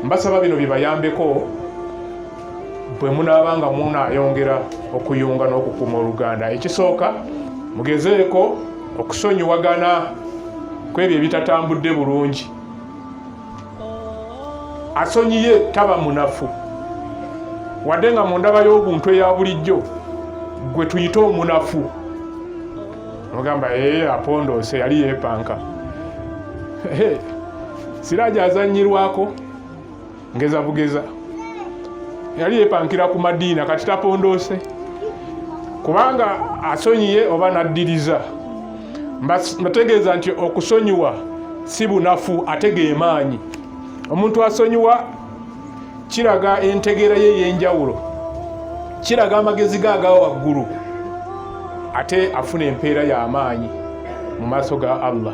mbasaba bino bibayambeko bwe munaaba nga munayongera okuyunga n'okukuuma oluganda ekisooka mugezeeko okusonyiwagana ku ebyo ebitatambudde bulungi asonyiye taba munafu wadde nga mu ndaba y'obuntu eya bulijjo gwe tuyite omunafu ogamba ee eh, apondoose yali yeepanka Siraje azannyirwako ngeza bugeza yali yepankira ku madiina kati tapondoose kubanga asonyiye oba naddiriza mbategeeza nti okusonyiwa si bunafu ate gemaanyi omuntu asonyiwa kiraga entegeera ye eyenjawulo kiraga amagezi ge aga waggulu ate afuna empeera y'amaanyi mu maaso ga allah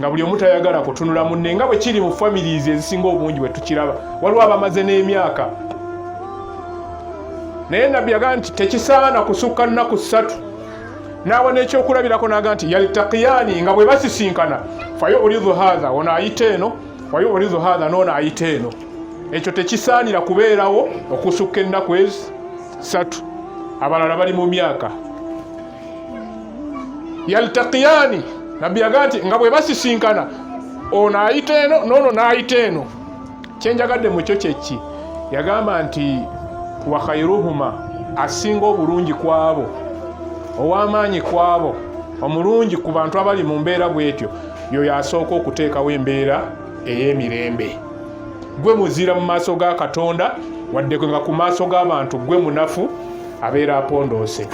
nga buli omu tayagala kutunula munne nga bwe kiri mu families ezisinga obungi bwe tukiraba waliwo abamaze n'emyaka naye nabbi yagaa nti tekisaana kusukka nnaku ssatu n'awa n'ekyokulabirako naga nti yaltakiyani nga bwe basisinkana fayo olidu hatha ono ayita eno fayo olidu hatha noono ayita eno ekyo tekisaanira kubeerawo okusukka ennaku ezi ssatu abalala bali mu myaka yaltaqiyani nabbi yagaa nti nga bwe basisinkana ono ayita eno noono n'ayita eno kyenjagadde mu kyo kyekki yagamba nti wakhairuhuma asinga obulungi kwabo ow'amaanyi kwabo omulungi ku bantu abali mu mbeera bwetyo yoyo asooka okuteekawo embeera ey'emirembe gwe muzira mu maaso ga katonda waddeko nga ku maaso g'abantu gwe munafu abeera apondoose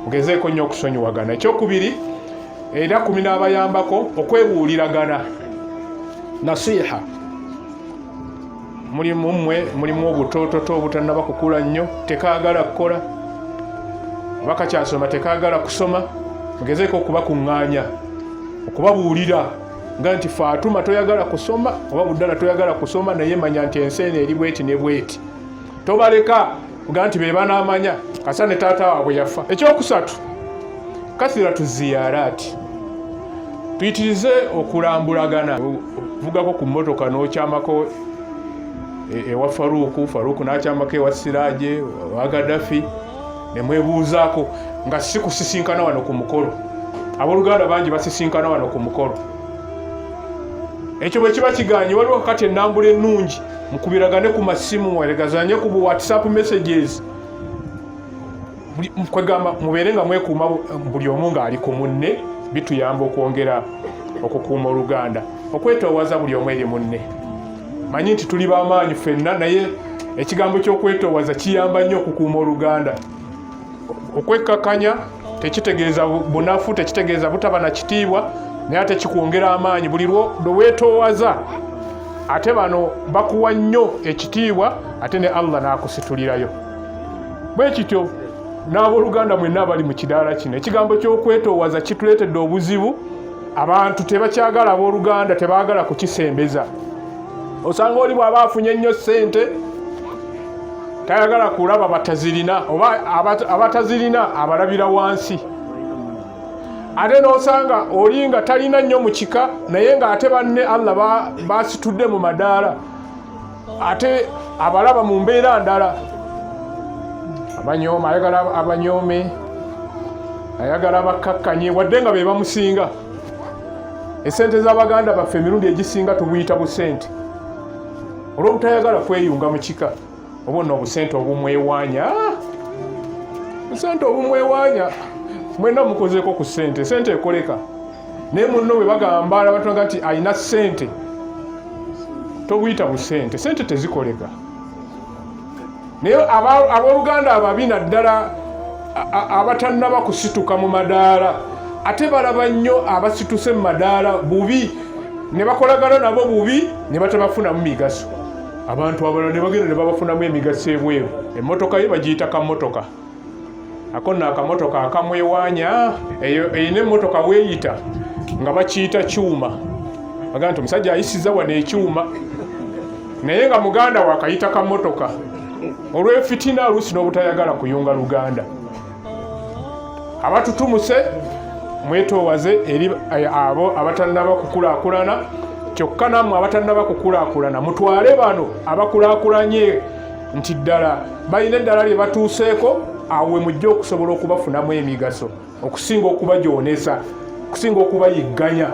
mugezeeko nnyo okusonyiwagana ekyokubiri era kumi n'abayambako okwebuuliragana nasiha mulimu mmwe mulimu obutoototo obutanaba kukula nnyo tekaagala kukola oba kakyasoma tekaagala kusoma mugezeeko okubakuŋŋaanya okubabuulira nga nti faatuma toyagala kusoma oba buddala toyagala kusoma naye manya nti ensi eno eri bweti ne bweti tobaleka kuga nti be banaamanya kasa ne taata waabwe yafa ekyokusatu kathira tuziyaraati tuyitirize okulambulagana vugako ku mmotoka n'okyamako e, ewa faruuku faruuku n'akyamako ewa siraje wa gaddafi ne mwebuuzaako nga si kusisinkana wano ku mukolo abooluganda bangi basisinkana wano ku mukolo ekyo bwe kiba kigaanye waliwo kakati ennambula ennungi mukubiragane ku masimu mweregazanye ku whatsapp messages kwegamba mubeere nga mwekuuma buli omu ng'ali ku munne bituyamba okwongera okukuuma oluganda okwetoowaza buli omu eri munne manyi nti tuli bamaanyi fenna naye ekigambo ky'okwetoowaza kiyamba nnyo okukuuma oluganda Okwekkakanya tekitegeeza bunafu, tekitegeeza butaba na kitiibwa, naye ate kikwongera amaanyi buli lwo lwe weetoowaza. Ate bano bakuwa nnyo ekitiibwa ate ne Allah n'akusitulirayo. Bwe kityo n'abooluganda mwenna abali mu kidaala kino, ekigambo ky'okwetoowaza kituleetedde obuzibu. Abantu tebakyagala abooluganda, tebaagala kukisembeza. Osanga oli bw'aba afunye nnyo ssente tayagala kulaba batazirina oba abatazirina abalabira wansi ate nosanga oli nga talina nnyo mu kika naye nga ate banne allah basitudde mu madaala ate abalaba mu mbeera ndala abanyooma ayagala abanyoome ayagala bakkakkanye wadde nga be bamusinga esente z'abaganda baffe emirundi egisinga tubuyita busente olw'obutayagala kweyunga mu kika oba nno obusente obumwewanya busente obumwewanya mwena mukozeeko ku sente sente ekoleka naye munno bwe bagamba abatonga nti alina sente tobuyita busente sente tezikoleka naye abooluganda ababi naddala abatannaba kusituka mu madaala ate balaba nnyo abasituse mu madaala bubi ne bakolagana nabo bubi ne batabafunamu migaso abantu abalala ne bagenda ne babafunamu emigaso ebweru emmotoka ye bagiyita kamotoka ako nno akamotoka akamwewanya eyo erina emmotoka weeyita nga bakiyita kyuma aga nti omusajja ayisiza wano ekyuma naye nga muganda wakayita kamotoka olwefitina oluusi n'obutayagala kuyunga luganda abatutumuse mwetoowaze eri eh, abo abatannaba kukulakulana kyokka nammwe abatannaba kukulakulana mutwale bano abakulakulanye nti ddala balina eddala lye batuuseeko awo we mujja okusobola okubafunamu emigaso okusinga okubajoonesa okusinga okubayigganya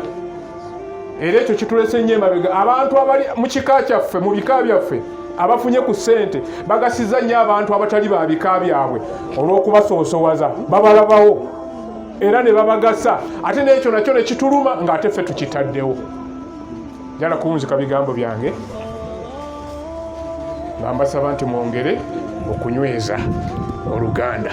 era ekyo kitulese nnyo emabega abantu abali mu kika kyaffe mu bika byaffe abafunye ku ssente bagasiza nnyo abantu abatali ba bika byabwe olw'okubasoosowaza babalabawo era ne babagasa ate n'ekyo nakyo ne kituluma ng'ate ffe tukitaddewo njala kuwunzika bigambo byange nga mbasaba nti mwongere okunyweza oluganda